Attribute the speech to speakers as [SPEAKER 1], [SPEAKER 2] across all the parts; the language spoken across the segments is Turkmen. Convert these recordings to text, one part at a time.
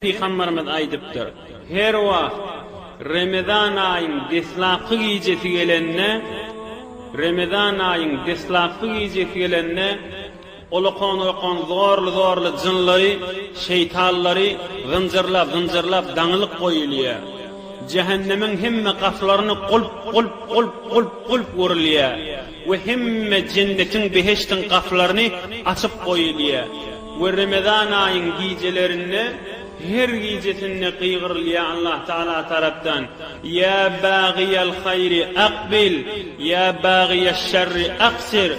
[SPEAKER 1] Pygamberimiz aýdypdyr, Her wagt Remezan aýyň deslapky gijesi gelende, Remezan aýyň deslapky gijesi gelende, olakan-olakan zorly-zorly jynlary, şeýtanlary zynjyrlap, zynjyrlap daňylyk goýulýar. Jähennemiň hemme gapylaryny gulp, gulp, gulp, gulp, gulp urilýär. we hemme jennetiň, behiştiň, gapylaryny açyp goýulýar we Remezan aýyň gijelerinde her gijesinde gygyrylýar Allah Tagala tarapdan, Ýa bagyýal haýry akbil, ýa bagyýaş şerri aksir,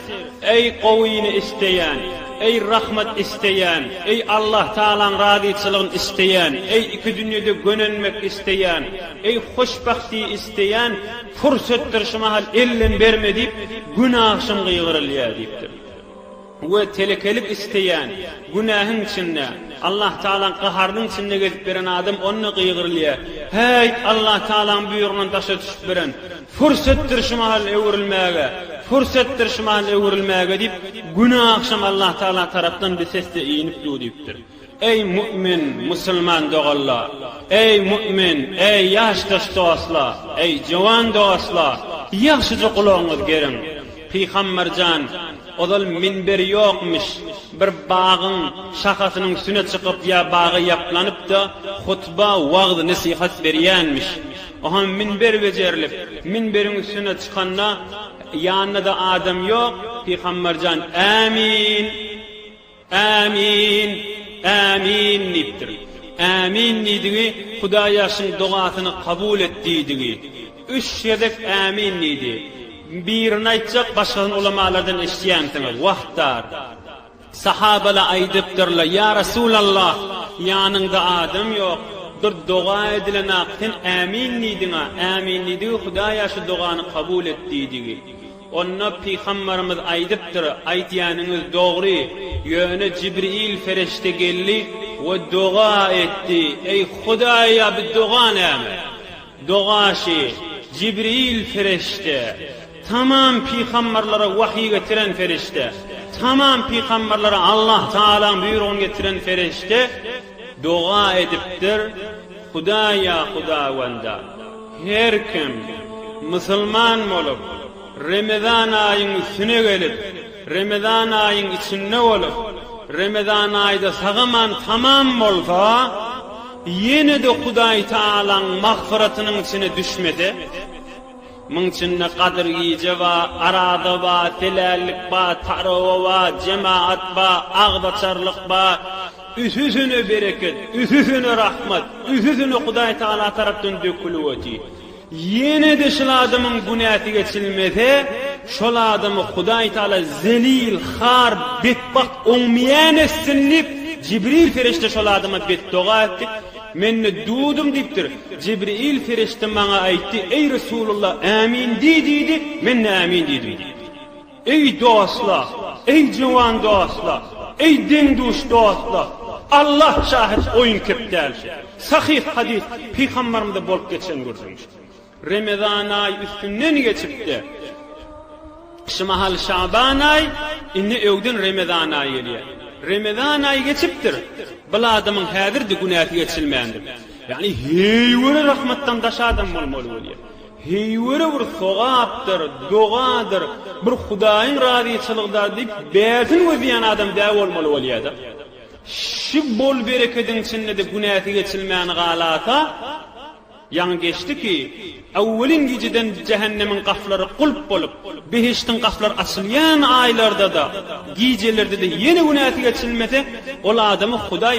[SPEAKER 1] Eý gowyny isleýän, eý rahmat isleýän, eý Allah Tagalaň razyçylygyn isleýän, eý iki dünýede gönenmek isleýän, eý hoşbahti isleýän, Pursetdir şu mahal ellem berme diýip, günahşym gygyrylýar diýipdir. We telekelik isleýän, günähiň içinde, Allahtagalaň gaharynyň içinde gezip ýören adam onda gygyrylýar, Häýt, Allahtagalaň buýrugyndan daşa düşüp biren, pursetdir şu mahal öwrülmäge, pursetdir şu mahal öwrülmäge diýip, günahşym Allahtagala tarapdan bir sesde inip dur diýipdir. Eý mu'min, musulman doganlar! Eý mu'min, eý ýaşdaş dostlar, eý jowan dostlar! Ýagşyja gulagyňyz geriň! Pygamber jan, ozal minber ýokmyş, bir bagyň şahasynyň üstüne çykyp ýa baga ýaplanyp-da, hutba, wagyz, nesihat berýänmiş. O hem minber bejerilip, minberiň üstüne çykanda, ýanynda-da adam ýok, Pygamber jan, Ämin! Ämin! Ämin! diýipdir. Ämin diýdigi Hudaýa şuň dogasyny kabul et diýdigi. Üç gezek ämin diýdi. Birini aýtjak başgasyny ulamalardan eşitýänsiňiz. Wagtdar. Sahabala aýdypdyrla, Ýa Resulallah, ýanyňda adam ýok. Bir doga edilenak sen ämin diýdiňa. Ämin diýdigi Hudaýa şu dogany kabul et diýdigi. Onda pygambarymyz aýdypdyr, Aýdýanyňyz dogry, ýöne Jibril ferişde geldi we doga etdi, Eý, Hudaýa bi doga näme? Dogaşy, Jibril ferişde, tamam pygambarlara wahyý getiren ferişde, tamam pygambarlara Allah Tagalaň buýrugyny getiren ferişde doga edipdir, Hudaýa, Hudawanda! Her kim, musulman bolup, Remezan aýyň üstüne gelip, Remezan aýyň içinde bolup, Remezan aýda sagaman tamam bolsa, ýene-de Hudaý Tagalaň magfyratynyň içine düşmese, muň içinde Gadyr gije ba, Araza ba, Telällik ba, Tarawa ba, Jemaat ba, Agzaçarlyk ba, Üsüsüne bereket, üsüsüne rahmat, üsüsüne Hudaý Tagala tarapdan dökülip otyr. Ýene-de şul adamyň günäsi geçilmese, şol adamy Hudaý Tagala zelil, har, betbagt, oňmeýän etsin diýip, Jibril perişde şol adama betdoga etdi. Men-de durdum diýipdir. Jibril perişde maňa aýtdy, Eý Resulullah, ämin diý diýdi, men-de ämin diýdim diýipdir. Eý dostlar, eý juwan dostlar, eý deň-duş dostlar, Allah şahit oýun kep däl şu. Sahyh hadys, pygambarymyzda bolup geçen gürrüň şu. Remezan aýy üstünden geçipdi. Şu mahal şaban aýy, indi öwden remezan aýy gelýär. Remezan aýy geçipdir, bil adamyň häzirdi günäsi geçilmändir. Ýagny heý göre rahmatdan daş adam bolmaly bolýar. Heýwere bir sogapdyr, dogadyr, bir Hudaýyň razyçylygydar diýip bärsin gözleýän adam dä bolmaly bolýada. Şu bol-berekediň içinde-de günäsi geçilmän galasa, ýaňy geçdi ki, Äwwelin gijeden jähennemiň gaflary gulp bolup, behiştiň gaflary açylýan aýlarda-da, gijelerde-de ýene günäsi geçilmese, ol adamy Hudaý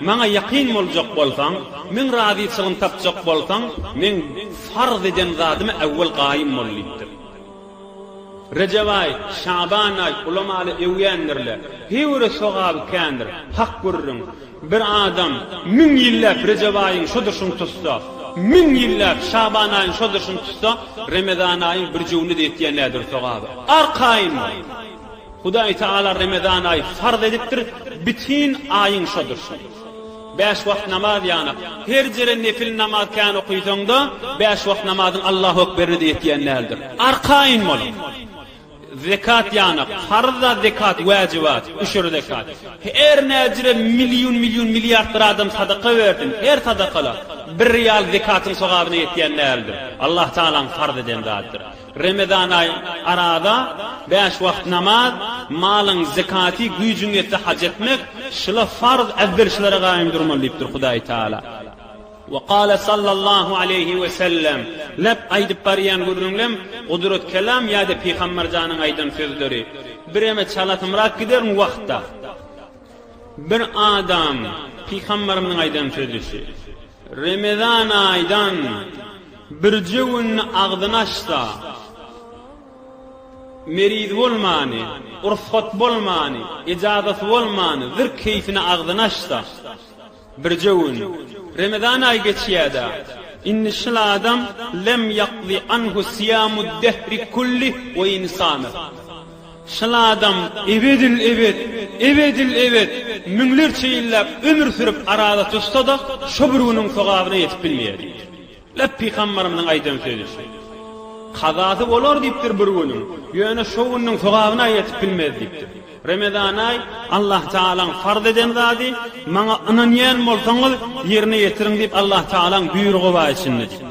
[SPEAKER 1] Maňa ýakyn boljak bolsaň, Meň razyçylygymy tapjak bolsaň, Meň farz eden zadyma äwwel gaýym bol diýipdir. Rejep aý, Şaban aý ulamaly öwýändirler. Heýwere sogaby kändir. Hak gürrüň, bir adam müň ýylläp Rejep aýyň şodurşyny tutsa, müň ýylläp Şaban aýyň şodurşyny tutsa, Remezan aýyň birjüwini-de ýetýän däldir sogaby. Arkaýyn bol! Hudaý Tagala Remezan aýy farz edipdir, bitin aýyň şo durşuna. Bäş wagt namaz ýanap, her jere nefil namaz kän okysaňda, bäş wagt namazyň Allahu Ekberini-de ýetýän däldir. Arkaýyn boluň. Zekat ýanap, farz-a zekat, wäjibat, üşür zekat. Her näjire million, million, milliardlar adam sadaka bersin, her sadaka-da, bir rial zekatyň sogabyna ýetýän däldir. Allah Tagalaň farz eden zadydyr. Remezan aýy, Araza, bäş wagt namaz, malyň zekaty, güýjüň ýetse haj etmek, şyla farz äwvelçilere gaýym durmaly diýipdir Hudaý Tagala. We kâle sallallahu aleýhi we sellem, Lep aýdyp barýan gürrüňlem, Gudrat kelam ýa-da Pygamber janyň aýdan sözleri. Bireme çalasymrak gider bu wagtda. Bir adam Pygamberimiziň aýdan sözüsi. Remezan aýdan birje günini agzyny açsa, meriz bolmany, ursat bolmany, ejazaty bolmany, zir keýpine agzyny açsa, birje gün, Remezan aýy geçýär-dä, indi şul adam lem ýakzy anhu syýamud dehri kulli we in samy. Şol adam ebedil-ebet, ebedil-ebet, müňlerçe ýyllap ömür sürüp arada tutsa-da, şo bir günüň sogabyna ýetip bilmeýär diýipdir. Läp pygambarymyzyň aýdan sözi şu. Kazasy bolar diýipdir bir günüň, ýöne şo günüň sogabyna ýetip bilmez diýipdir. Remezanaý, Allah Tagalaň farz eden zady, maňa ynanýan bolsaňyz, ýerine ýetiriň diýip Allah Tagalaň buýrugy bar içinde diýipdir.